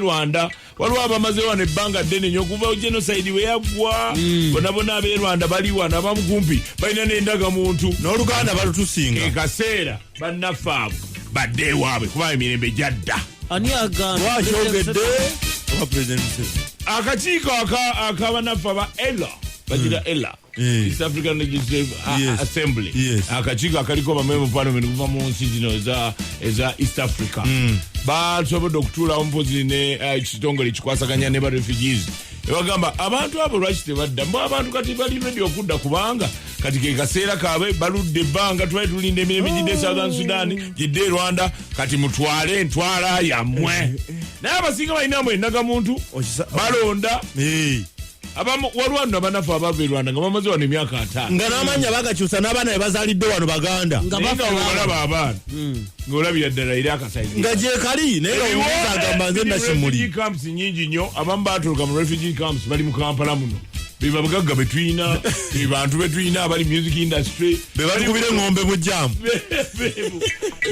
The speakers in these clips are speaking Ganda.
rwanda waliwo abamaze wano ebbanga ddene nyo okuva genocide we yaggwa mm. bonabona ab'e rwanda bali wano abamu kumpi balina n'endaga muntu n'oluganda balutusinga ekaseera bannaffe abo badde ewaabwe kuba emirembe gyadda ani agambakyogedde akakiiko akabanaffe aba ela bagira mm. ela Eh. East African Legislative uh, yes. Assembly yes. akakiiko akaliko bamemba parliament kuva mu nsi zino eza East Africa mm. basobodde okutuulawo mpozi nekitongole eh, uh, kikwasaganya ne barefugees ebagamba abantu abo lwaki tebadda mbu abantu kati bali redi okudda kubanga kati kekaseera kaabwe baludde ebbanga twali tulinda emirembe gidde e southern oh. sudan gidde e rwanda kati mutwale entwala yammwe eh, naye abasinga balina mwenaga muntu balonda abamu waliwo no abanafu abava e rwanda nga bamaze wano emyaka ataano nga n'amannya bagakyusa n'abaana be bazaalidde wano baganda nga baolaba abaana hmm. ngaolabira ddala eri akasaizi nga gyekali naye nga agamba nze nakimuli camps nyingi nnyo abamu baaturuka mu refugee camps bali mu kampala muno bebabagagga betulina bebantu betulina abali music industry bebalikubira engombe mujjamu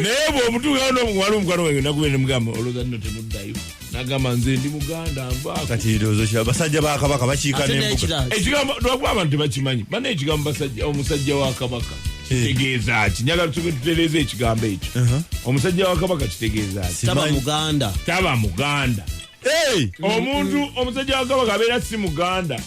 naye bwomutuukawo nomuwala omukwana wange nakubeere mugamba olowooza nno temuddayo nagamba nze ndi muganda nvakatibasajja bakabaka bakiika nembuga ekigambo lwakuba abantu tebakimanyi bana ekigambo basajja omusajja wa kabaka eh. kitegeeza ki njagala tusoke tutereeza ekigambo ekyo uh-huh. omusajja wa kabaka kitegeeza ki taba muganda taba muganda omuntu omusajja wa kabaka abeera si muganda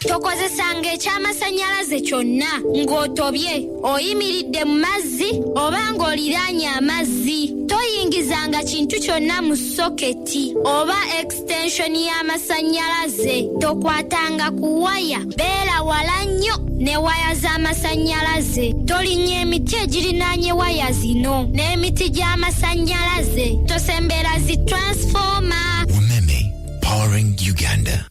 tokozesanga eky'amasannyalaze kyonna ng'otobye oyimiridde mu mazzi oba ng'oliraanye amazzi toyingizanga kintu kyonna mu soketi oba ekisitenshoni y'amasannyalaze tokwatanga ku waya beera wala nnyo ne waya z'amasannyalaze tolinnya emiti egirinaanye waya zino n'emiti gy'amasannyalaze tosembera zi transfoma umeme powering uganda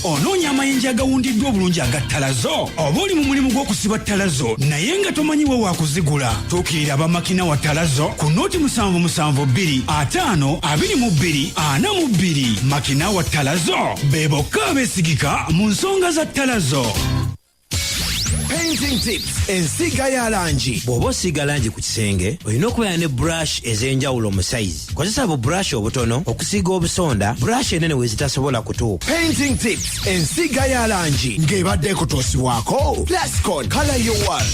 onoonya amayinja agawundiddwa obulungi aga ttalazo oba oli mu mulimu gw'okusiba ttalazo naye nga tomanyi we waakuzigula tuukirira abamakina wa ttalazo ku nooti musanvu musanvu bbiri ataano abiri mu bbiri ana mu bbiri makina wa ttalazo be bokka abeesigika mu nsonga za ttalazo Painting tips ensiiga ya langi bw'oba osiiga langi ku kisenge olina okubeera ne brush ez'enjawulo mu sayizi kozesa bu brush obutono okusiiga obusonda brush enene we zitasobola kutuuka Painting tips ensiiga ya langi ng'ebadde ekutuusibwako plascon color your world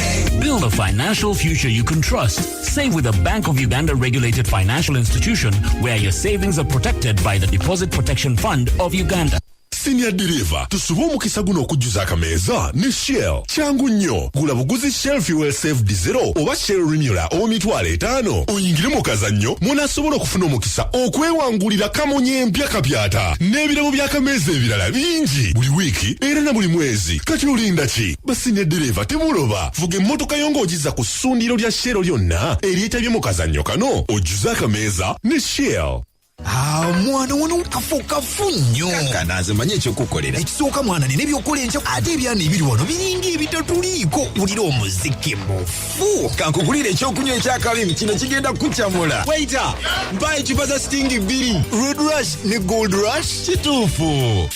Build a financial future you can trust. Save with a Bank of Uganda regulated financial institution where your savings are protected by the Deposit Protection Fund of Uganda. senior diriva tusube omukisa guno okujjuza akameeza ne shell kyangu nnyo gula buguzi shell fuel safe dizero oba shell renula ow'emitwalo etaano oyingire mu kazannyo mw'onaasobola okufuna omukisa okwewangulira kamunye empya kapyata n'ebirabo by'akameeza ebirala bingi buli wiiki era na buli mwezi kati olinda ki Basi ne ddereeva temuloba vuga emmotoka yo ng'ogizza ku ssundiro lya shell lyonna eryetabye mu kazannyo kano ojjuze akameeza ne shell Ah, mwana wano kafu kafu nnyo kankana nze manyi ekyokukolera ekisooka mwana nina ebyokukola enkya ate ebyana ebiri wano biringa ebitatuliiko wulira omuziki mufu kankugulira ekyokunywa ekyakalimu kino kigenda kukucamula waita mpa ecupa za sitingi bbiri red rush ne gold rush kituufu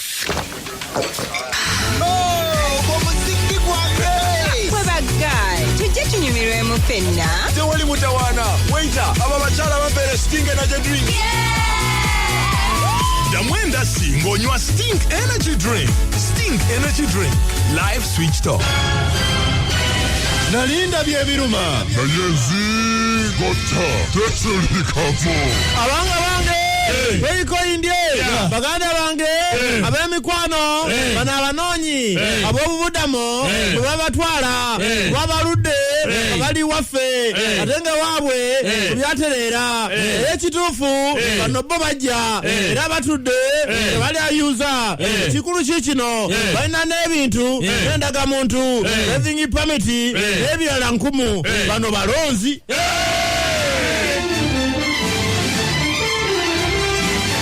fenna tewali mutawaana waita abo abakyala babeere sting energy drink ddamu endasi ng'onywa sting energy drink sting energy drink live switch top nalinda byebiruma naye nzigotta tetulikako abanga bange weikoindye baganda banange eh. ab'emikwano eh. bano abanoonyi eh. ab'obubudamo bwe babatwala babaludde abali waffe ate nga waabwe byatereera era ekituufu bano bo bajja era batudde tebali ayuza ekikulu ki kino balina n'ebintu n'endagamuntu ezingi pamiti n'ebirala nkumu bano balonzi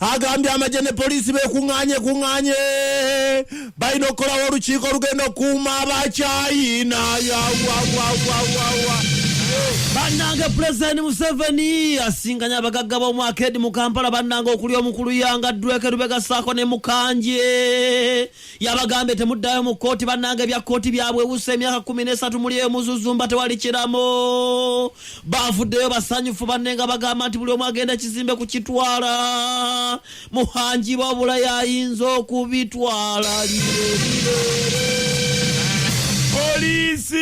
agambye amagye ne poliisi bekuŋŋaanye kuŋŋaanye balina okukolawo olukiiko olugenda okukuuma abakyayina yawawawawaa bannange pulezidenti museveni asinganya abagagga b'omwaka edi mu kampala bannange okuli omukulu yanga dweke lubegasaako ne mukanje Yabagambye temuddayo mu kkooti bannange bya kkooti byabwewusa emyaka kumi n'esatu muli eyo muzuzumba tewali kiramu. Baavuddeyo basanyufu banne nga bagamba nti buli omu agenda kizimbe kukitwala. Muhangi wabula yayinza okubitwala Poliisi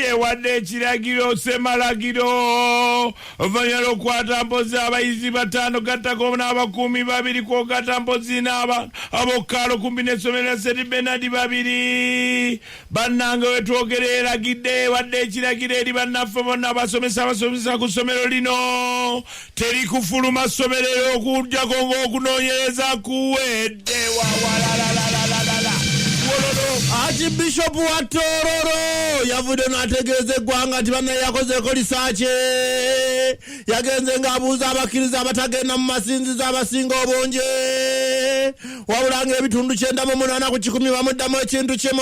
ewadde ekiragiro semalagiro Oluvannyuma lw'okukwata mpozi abayizi bataano gattako n'abakuumi babiri kwogata mpozi n'abantu ab'okukaalo kumpi n'essomero lya St Bernard babiri bannange wetwogera eragidde ewadde ekiragiro eri bannaffe bonna abasomesa abasomesa ku ssomero lino teri kufuluma ssomero era okujjako ng'okunoonyereza kuwedde archibishopu wa tororo yavudde n'ategeeza eggwanga nti bannaye yakozeeko lisaakye yagenze ng'abuuza abakkiriza abatagenda mu masinzizo abasinga obungi wabula ng'ebitundu kyenda mu munaana ku kikumi bamuddamu ekintu kimu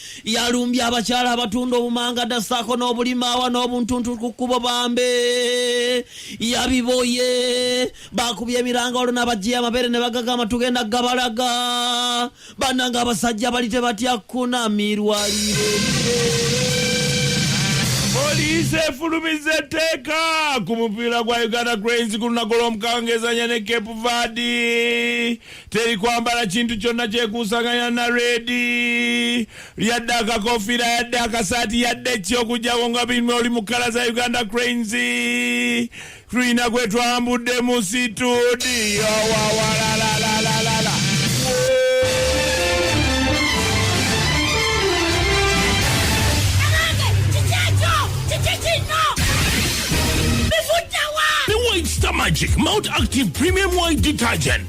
yalumbye abakyala abatunda obumangada saako n'obulimaawa n'obuntuntu ku kkubo bambe yabiboye bakubye emiranga olwo nabajjiya amabeere ne bagagamba tugenda gabalaga bannanga abasajja bali tebatya kunamirwa poliisi efulumiza etteeka ku mupiira gwa uganda cranes ku lunaku lw'omukangezanya ne cape vadi teri kwambala kintu kyonna kyekuusaganya na redi yadde akakofiira yadde akasaati yadde ekyokujjako nga bimu oli mu kala za uganda cranes tulina kwe twambudde mu situdiyo wawalalalalala Magic Mount Active Premium White Detergent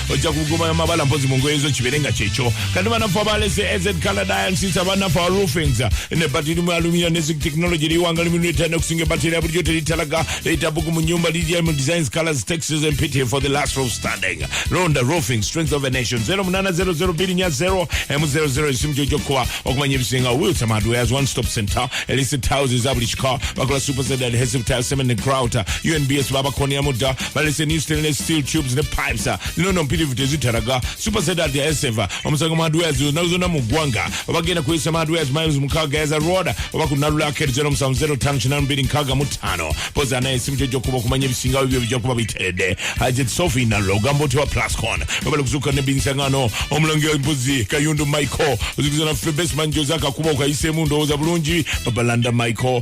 ojja kugumayo mabala mpozi mu ngoye zo kibeere nga kyekyo kati banafu abalese ez canada yansisa banafu a roofings ne batiri mu alumina ne zik technology liwanga liminu etana okusinga ebatiri ya bulijjo teritalaga leta bugu mu nyumba lidia mu designs colors texas and pity for the last roof standing ronda roofing strength of a nation 0800 nya 0 emu 00 esimu gyo gyokuba okumanya ebisinga wilson hardwares one stop center elise tiles eza buli kika bakola super zed adhesive tiles cement and grouter unbs babakonyamu dda balese new stainless steel tubes ne pipes lino no mpitirivu tezitaraga super set at the eseva omusango mu hardwares olunaku zonna mu ggwanga obagenda kuyisa mu hardwares miles mukaaga yaza road oba ku nalula akeri zero musanvu zero ttaano kinaana bbiri nkaaga mu ttaano pozi anaye esimu kyojja okuba okumanya ebisingawo ebyo bijja kuba biteredde hajat sofi nalula ogamba otya wa plascon babala okuzuuka ne binsangano omulangira embuzi kayundu michael ozikuza naffe best manager ozakakuba okayiseemu ndowooza bulungi babalanda michael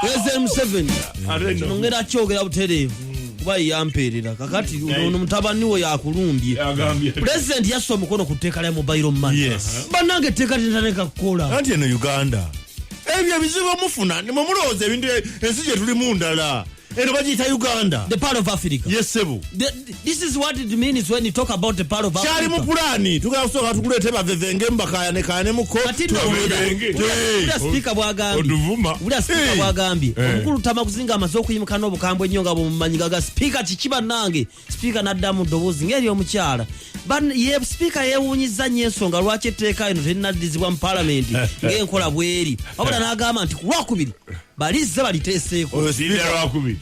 president museveni nongera akyogera butereevu kuba yeyampeerera kakati ono mutabani we yakulumbye pulezidenti yassa omukono ku tteeka lya mobile money bannange etteeka linataneka kukola anti eno uganda ebyo ebizibu omufuna mwe mulowooza ebintu ensi gye tulimu ndala eno bagiyita uganda the part of africa yesebo this is what it means when you talk about the part of africa kyali mu pulani tugala kusooka tukuleete bavevenge mubakaya nekaya ne muko speaker bwagambye bula speaker eh. bwagambye eh. omukulu tamakuzinga amaze okuyimuka n'obukambwe ennyo nga bumumanyi gaga speaker kiki bannange sipiika n'addamu ddoboozi ng'ery'omukyala Ban- ye sipiika yeewuunyizza nnyo ensonga lwaki etteeka lino terinaddizibwa mu palamenti ng'enkola bw'eri wabula n'agamba nti ku lwakubiri balizze baliteeseeko Oyo Linda sipiika- lwakubiri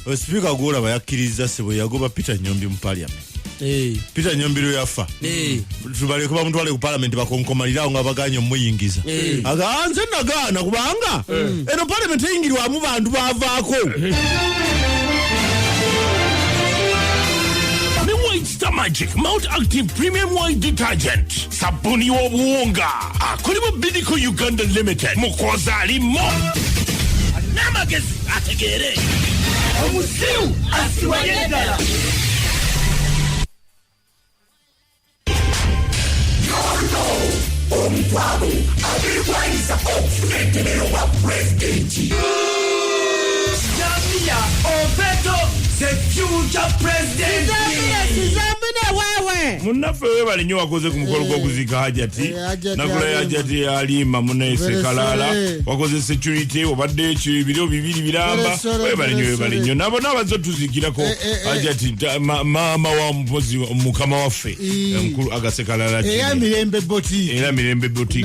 oyo sipiika gwolaba yakkirizza sebo yagoba peter nyombi mu parliament Eh, peter nyombi lwe yafa eh. tubaleke bamutwale ku palamenti bakonkomalirawo nga baganye omuyingiza eh. agaa nze nagaana kubanga eh. eno palamenti eyingirwamu bantu bavaako eh. Mr. Magic Mount Active Premium White Detergent sabuni w'obuwunga akolebwa Bidiko Uganda Limited mukozi alimo n'amagezi ategeere omusiru asiwaye ddala omukwago abirwanisa okufuna entemero wa pulezidenti zambia opeto the future president munaffe webale nyo wakoze ku mukolo gwokuzika hajati eh, eh, nagula ya hajati yalimba munese kalala wakoze security obadde ekyo ebiro bibiri biramba webale nyo webale nyo nabo nabaze otuzikirako eh, hajati maama wamu mpozi mukama waffe mukulu agasekalala era mirembe boti era mirembe boti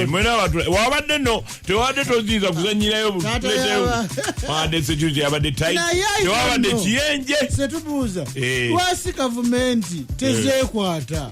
mwena watu wabadde no tewabadde toziiza kuzanyirayo buleteyo wabadde security yabadde tight tewabadde kiyenje setubuuza eh. lwasi gavumenti tezekwata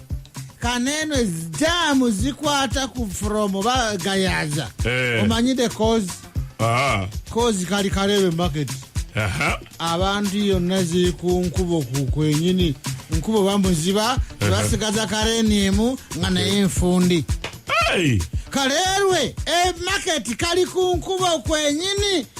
kaneno ezijamu zikwata ku from bagayaza Eh. omanyide cause Ah, cause kali karebe market aha. abantu yonna ziri ku nkubo ku kwenyini nkubo bamuziba basigaza kareni emu nga naye nfundi Hey! kalerwe emaketi kali ku nkubo kwenyini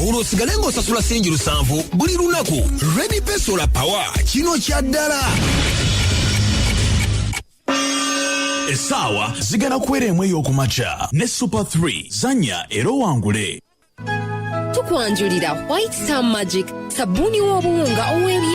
olwo osigale ng'osasula singi lusanvu buli lunaku redi pesola pawa kino kya ddala essaawa zigana kuwera emu ey'okumakya ne super 3 zanya era owangule tukwanjulira white star magic sabbuuni w'obuwunga ow'ebi